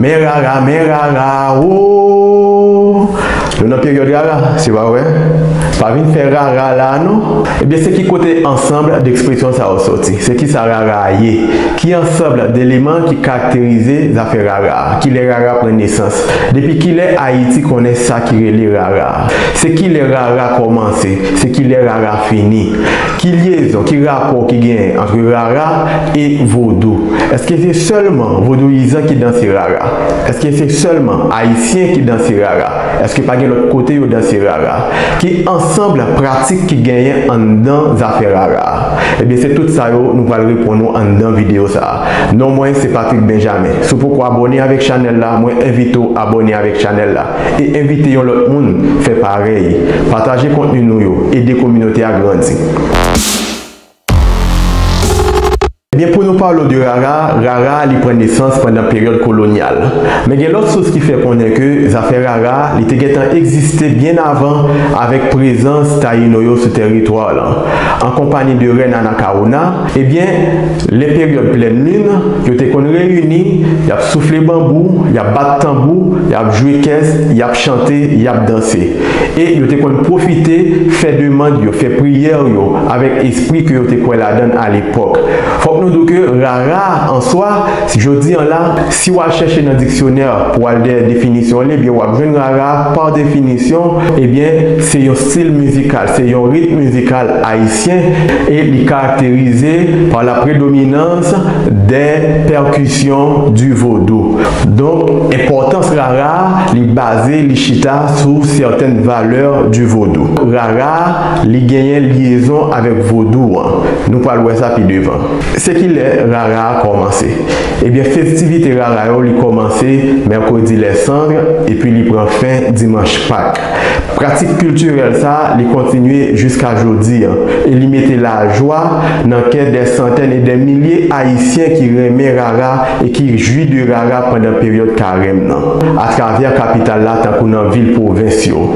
Men rara, men rara ooh Nou nan peryòd rara, se pa vre? Pa vin fè rara la a non! Ebyen se ki kote ansanb dekspresyon sa yo soti? Se kisa rara a ye? Ki ansanb deleman ki karakterize zafè rara a? Kilè rara pran nesans? Depi kilè Ayiti konnen sa ki rele rara a? Se kilè rara kòmanse? Se kilè rara fini? Ki lyezon, ki rapò ki genyen antre rara e vodou? Eske se sèlman vodouyizan ki danse rara? Eske se sèlman Ayisyen ki danse rara? Eske pa gen lòt kote yo danse rara? Ki ansanbl pratik ki genyen anndan zafè rara a? Ebyen se tout sa yo nou pral reponn ou anndan videyo sa a. Non mwen se Patrick Benjamin. Si w poko abòne avèk chanèl la, mwen envite w abòne avèk chanèl la. e envite yon lòt moun fè parèy. Pataje kontni nou yo, ede kominote a grandi. Ebyen pou nou pale w de rara, rara li pran nesans pandan peryòd kolonyal. Men gen lòt sous ki fè konnen ke zafè rara li te gentan egziste byen avan avèk prezans Tayino yo sou tèritwa w lan, an konpani de Rèn Anakawona, Ebyen, lè peryòd plèn lin, yo te konn reyini, y ap soufle banbou, y ap bat tanbou, y ap jwe kès, y ap chante, y ap danse. E yo te konn pwofite fè demand yo, fè priyè yo avèk espri ke yo te kwè ladan l alepòk. Fòk nou di w ke rara an swa, jodi an la, si w al chèche nan diksyonè pou w al dèyè definisyon li, ebyen w ap jwenn rara pa definisyon, ebyen se yon stil mizikal, se yon ritm mizikal, Ayisyen e li karakterize pa la predominans dè pèkisyon di vodou. Donk, enpòtans rara a, li baze, li chita sou sètèn valè di vodou. Rara a, li genyen lyezon avèk vodou an. Nou pral wè sa pi devan. Se ki lè rara a kòmanse? Ebyen, festivite rara yo li kòmanse Mèkredi Lèsandre epi li pran fen Dimanch Pak. Pratik kiltirèl sa li kontinye jiska jodi an e li mete lajwa nan kè dè santèn e dè milye Ayisyen ki renmen rara e ki jwi de rara pandan peryòd karèm nan atravè kapital la tankou nan vil pwovens yo.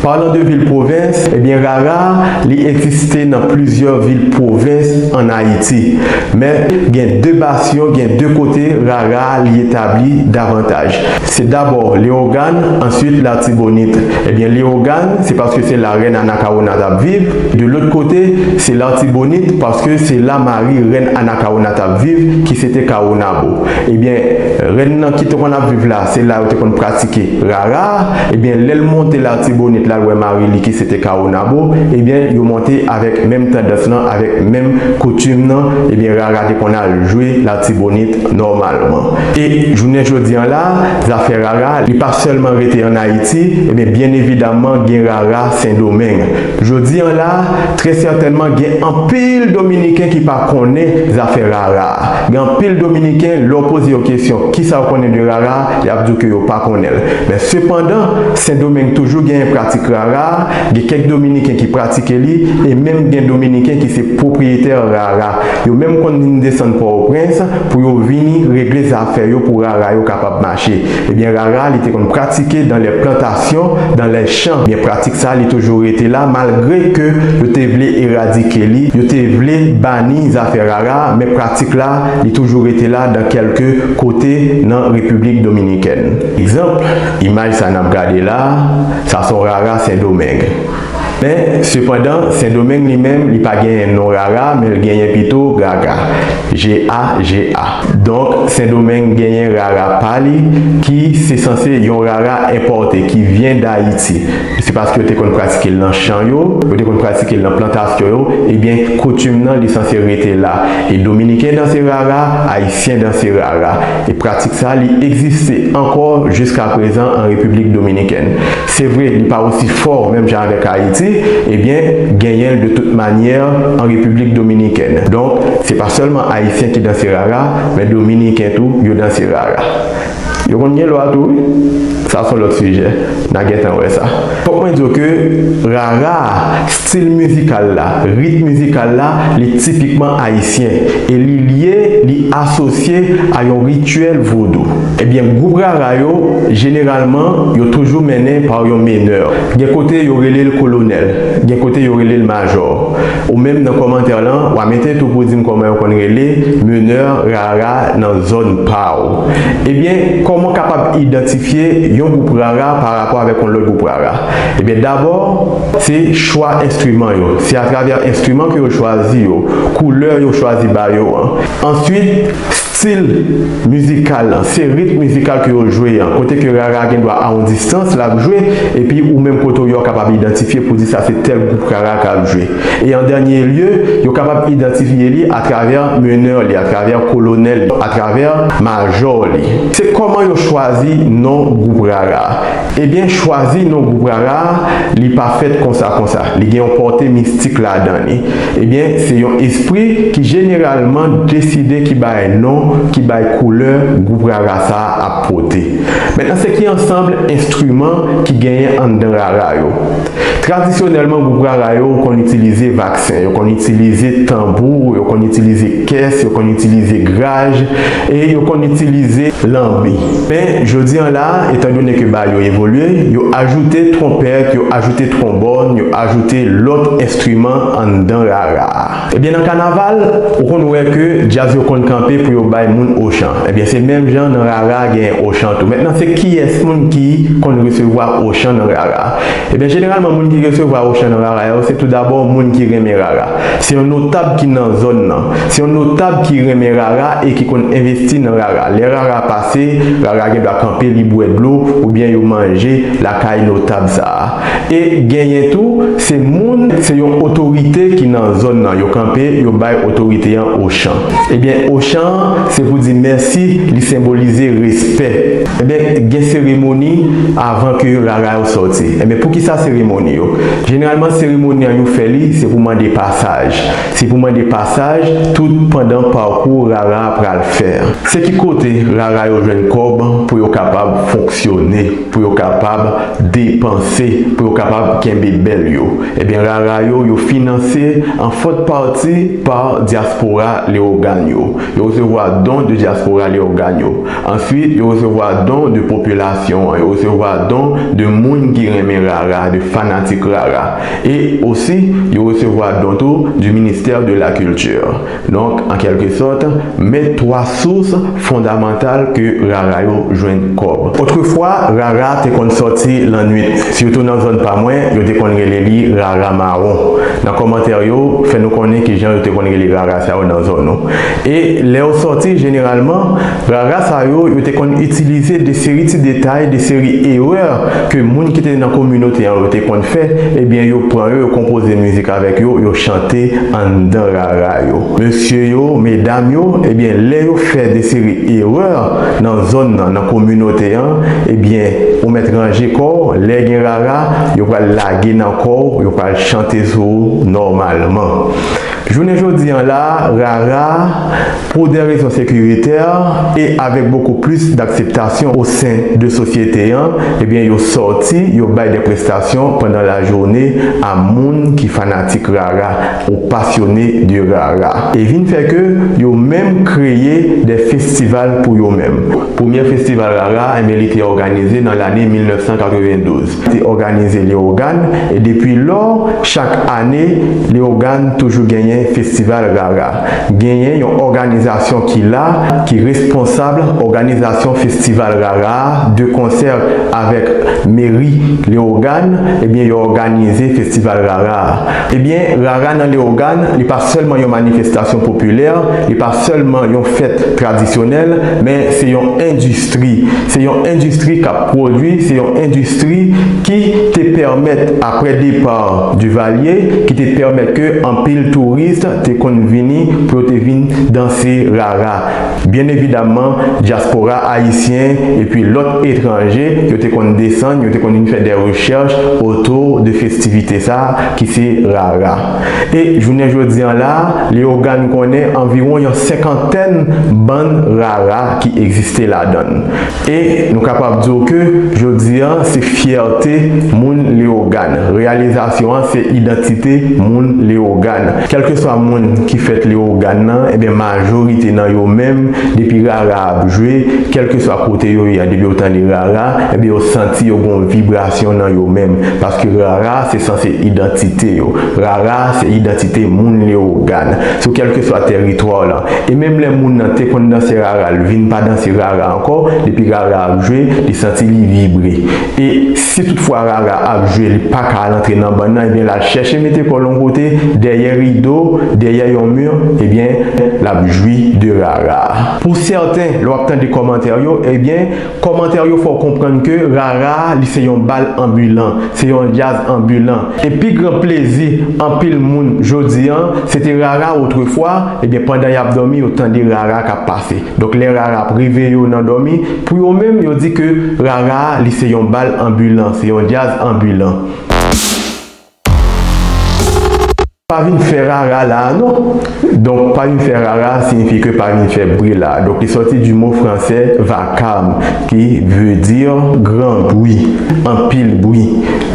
Parlant de vil pwovens, ebyen rara li egziste nan plizyè vil pwovens an Ayiti men gen de bas yon gen de kote rara li etabli davantaj. Se dabò Leogàn, answit Latibonit. Ebyen Leogàn, se paske se la rèn Anakawona t ap viv. De lòt kote, se Latibonit, paske se la mari rèn Anakawona t ap viv, ki se te Kawonabo. Ebyen, rèn nan ki te konn ap viv la, se la yo te konn pratike Rara a. Ebyen, lè l monte Latibonit, l al wè mari li ki se te Kawonabo. Ebyen, yo monte avèk menm tandans lan, avèk menm koutim nan. Ebyen, Rara te konn al jwe Latibonit nòmalman. E jounen jodi an la, zafè rara, li pa sèlman rete an Ayiti, ebyen byen evidaman gen rara Sendomeng. Jodi an la, trè sètènman gen anpil dominiken ki pa konnen zafè rara. Gen anpil dominiken, lè w poze yo kesyon kisa yo konnen de rara, y ap di w ke yo pa konnen l. Men sepandan, Sendomeng toujou genyen pratik rara, gen kèk dominiken ki pratike li, e menm gen dominiken ki se pwopriyetè rara. Yo menm konn vin desann Pòtoprens pou yo vini regle zafè yo pou rara yo kapab mache. Ebyen rara li te konn pratike dan lè plantasyon, dan lè chan. Ebyen pratik sa li toujou rete la malgre ke yo te vle eradike li, yo te vle bani zafè rara men pratik la li toujou rete la dan kèlke kote nan Repiblik Dominikèn. Egzanp, imaj sa nap gade la, sa son rara Sendomeng. Men, sepandan, Sendomeng li menm, li pa genyen non rara, men l genyen pito gaga, G-a-g-a. Donk, Sendomeng genyen rara pa li, ki se sanse yon rara enpòte, ki vyen Dayiti. Se paske yo te konn pratike l nan chan yo, yo te konn pratike l nan plantasyon yo, ebyen, koutim nan li sanse rete la. E Dominiken danse rara, Ayisyen danse rara. E pratik sa a, li egziste ankò jiskaprezan an Repiblik Dominikèn. Se vre li pa osi fò menm jan avèk Ayiti, ebyen genyen l de tout manyè an Repiblik Dominikèn. Donk, se pa sèlman Ayisyen ki danse rara, men Dominiken tou yo danse rara. Yo konn gen lwa tou wi. Sa s on lòt sijè, n a gentan wè sa. Fòk mwen di w ke rara a, Stil mizikal la, rit mizikal la, li tipikman ayisyen e li lye, li asosye a yon rityèl vodou. Ebyen, gwoup rara yo, jeneralman, yo toujou mennen pa yon menè. Gen kote yo rele l kolonèl, gen kote yo rele l majò. Ou menm nan kòmantè lan, w a mete tou pou di m kòman yo konn rele menè rara nan zòn pa w. Ebyen, kòman w kapab idantifye yon gwoup rara parapò avèk yon lòt gwoup rara? Ebyen, dabò. Se chwa enstriman yo. Se atravè enstriman ke yo chwazi yo, koulè yo chwazi ba yo an. Answit, stil mizikal lan. Se ritm mizikal ke yo jwe an. Kote ke rara gen dwa a on distans lap jwe, epi ou menm kote ou ye ou kapab idantifye pou di sa se tèl gwoup rara kap jwe. E an dènye lye, yo kapab idantifye li atravè menè li, atravè kolonèl li, atravè majò li. Se kòman yo chwazi non gwoup rara. Ebyen chwazi non gwoup rara a li pa fèt konsa konsa, li gen yon pòte mistik ladan li. Ebyen se yon espri ki jeneralman deside ki bagay non, ki bagay koulè gwoup rara sa a ap pote. Mentnan se ki ansanbl enstriman ki genyen anndan rara yo. Tradisyonèlman gwoup rara yo konn itilize vaksen, yo konn itilize tanbou, yo konn itilize kès, yo konn itilize graj e yo konn itilize lanbi. Men, jodi an la, etandone ke bal yo evolye, yo ajoute twonpèt, yo ajoute twonbòn, yo ajoute lòt enstriman anndan rara a. Ebyen nan kanaval ou konn wè ke djaz yo konn kanpe pou yo bay moun ochan ebyen se menm jan nan rara gen ochan tou mentnan se kiyès moun ki konn resevwa ochan nan rara ebyen jeneralman moun ki resevwa ochan nan rara yo se tou dabò moun ki renmen rara se yon notab ki nan zòn nan se yon notab ki renmen rara e ki konn envesti nan rara lè rara pase rara gen dwa kanpe li bwè dlo oubyen yo manje lakay notab sa. E genyen tou se moun se yon otorite ki nan zòn nan yo kanpe yo bay otorite an ochan ebyen ochan an se pou di mèsi li senbolize respè ebyen gen seremoni avan ke rara yo sòti ebyen poukisa seremoni yo jeneralman seremoni an yo fè li se pou mande pasaj se pou mande pasaj tout pandan pakou rara a pral fè. Se ki kote rara yo jwenn kòb pou yo kapab fonksyone. pou yo kapab depanse, pou yo kapab kenbe bèl yo, ebyen rara yo, yo finanse an fòt pati pa Dyaspora Leyogàn yo, yo resevwa don de Dyaspora Leyogàn yo, answit yo resevwa don de popilasyon an, yo resevwa don de moun ki renmen rara, de fanatik rara, e osi yo resevwa don tou du ministère de la culture. Donk, an kèlke sòt, men 3 sous fondamantal ke rara yo jwenn kòb. Otrefwa, rara te konn sòti lannwit, sitou nan zòn pa mwen, yo te konn rele li rara mawon. Nan kòmantè yo, fè nou konnen ki jan yo te konn rele rara sa yo nan zòn ou. E, lè yo sòti, jeneralman, rara sa yo, yo te konn itilize de seri ti detay, de seri erè ke moun ki te nan kominote an yo te konn fè, ebyen yo pran yo, yo konpoze mizik avèk yo, yo chante anndan Ra yo. Mesye yo, medam yo, ebyen lè yo fè de seri erè nan zòn nan, nan kominote an, ebyen ou mèt ranje kò w, lè gen rara, yo pral lage nan kò w, yo pral chante sou ou nòmalman. Jounen jodi an la, rara, pou dè rezon sekiritè, e avèk bokou plis dakseptasyon o sen de sosyete an, ebyen yo sòti, yo bay dè prestasyon pandan lajounen a moun ki fanatik rara. Ou pasyone de rara. E vin fè ke yo menm kreye de festival pou yo menm. Premye festival rara enben li te òganize nan lane 1992. Te òganize Lewogàn e depi lò chak ane Lewogàn toujou genyen festival rara. Genyen yon òganizasyon ki la ki responsab òganizasyon festival rara a de konsè avèk meri Lewogàn enben yo òganize festival rara a. Ebyen, Rara nan Leyogàn, li pa sèlman yon manifestasyon popilè, li pa sèlman yon fèt tradisyonèl, men se yon endistri. Se yon endistri k ap pwodui, se yon endistri ki te pèmèt, aprè depa Divalye, ki te pèmèt ke anpil touris te konn vini pou yo te vin danse Rara. Byen evidaman, dyaspora ayisyen epi lòt etranje yo te konn desann, yo te konn vin fè dè rechèch otou de festivite sa a ki se rara. E jounen jodi an la a, Leyogàn konnen anviwon yon senkantèn bann rara ki egziste ladan l. E nou kapab di w ke jodi a se fyète moun Leyogàn. Reyalizasyon an se idantite moun Leyogàn. Kèlkeswa moun ki fèt Leyogàn nan, enben majorite nan yo menm depi rara a ap jwe, kèlkeswa kote yo ye a depi yo tande rara, enben yo santi yo gen yon vibrasyon nan yo menm. Paske rara se sanse idantite yo. Rara se idantite moun Leyogàn. Sou kèlkeswa tèritwa w la. E menm lè moun nan te konn danse rara l vin pa danse rara ankò, depi rara ap jwe li santi li vibre. E si tout fwa rara ap jwe li pa ka al antre nan bann nan ebyen l al chèche mete kò l yon kote dèyè rido, dèyè yon mur ebyen l ap jwi de rara. Pou sèten lè w ap tande kòmantè yo ebyen. Kòmantè yo fè w konprann ke Rara li se yon bal anbilan, se yon djaz anbilan. E pi gran plezi anpil moun jodi an, se te Rara otrefwa, ebyen pandan y ap dòmi yo tande Rara k ap pase. Donk lè Rara ap reveye yo nan dòmi, pou yo menm yo di ke Rara li se yon bal anbilan, se yon djaz anbilan. Pa vin fè rara la a non. Donk, pa vin fè rara a siyifi ke pa vin fè bri la a. Donk, li sòti di mo franse vacarme ki vle di gran bri, anpil bri.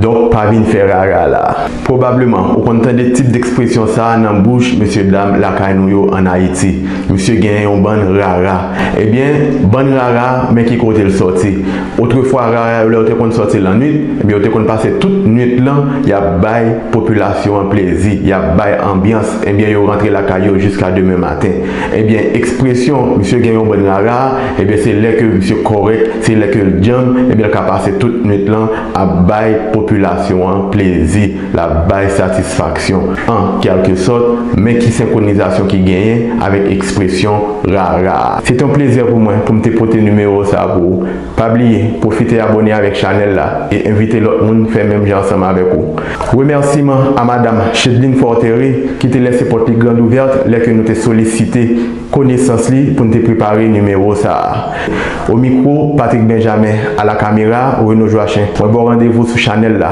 Donk, pa vin fè rara la a. Pwobableman, ou konn tande tip dekspresyon sa a nan bouch mesyedam lakay nou yo ann Ayiti, Misye gen yon bann rara. Ebyen, bann rara, men ki kote l sòti. Otrefwa rara yo lè yo te konn sòti lannwit, ebyen yo te konn pase tout nwit lan yap bay popilasyon an plezi, yap bay anbyans, ebyen yo rantre lakay yo jiska demen maten. Ebyen ekspresyon misye gen yon bann rara a, ebyen se lè ke misye kòrèk, se lè ke l djanm, ebyen l ka pase tout nwit lan ap bay popilasyon an plezi. L ap bay satisfaksyon, an kèlke sòt, men ki senkronizasyon ki genyen avèk ekspresyon rara a? Se te yon plezè pou mwen pou m te pote nimewo sa a pou ou. Pa bliye, pwofite abone avèk chanèl la e envite lòt moun fè menm jan ansanm avèk ou. Remèsiman a Madam Chedeline Fortere ki te lèse pòt li grandouvèrt lè ke nou te solisite konesans li pou n te prepare nimewo sa a. O mikwo, Patrick Benjamin, a la kamera, Renaud Joachim. Mwen ba w randevou sou chanèl la.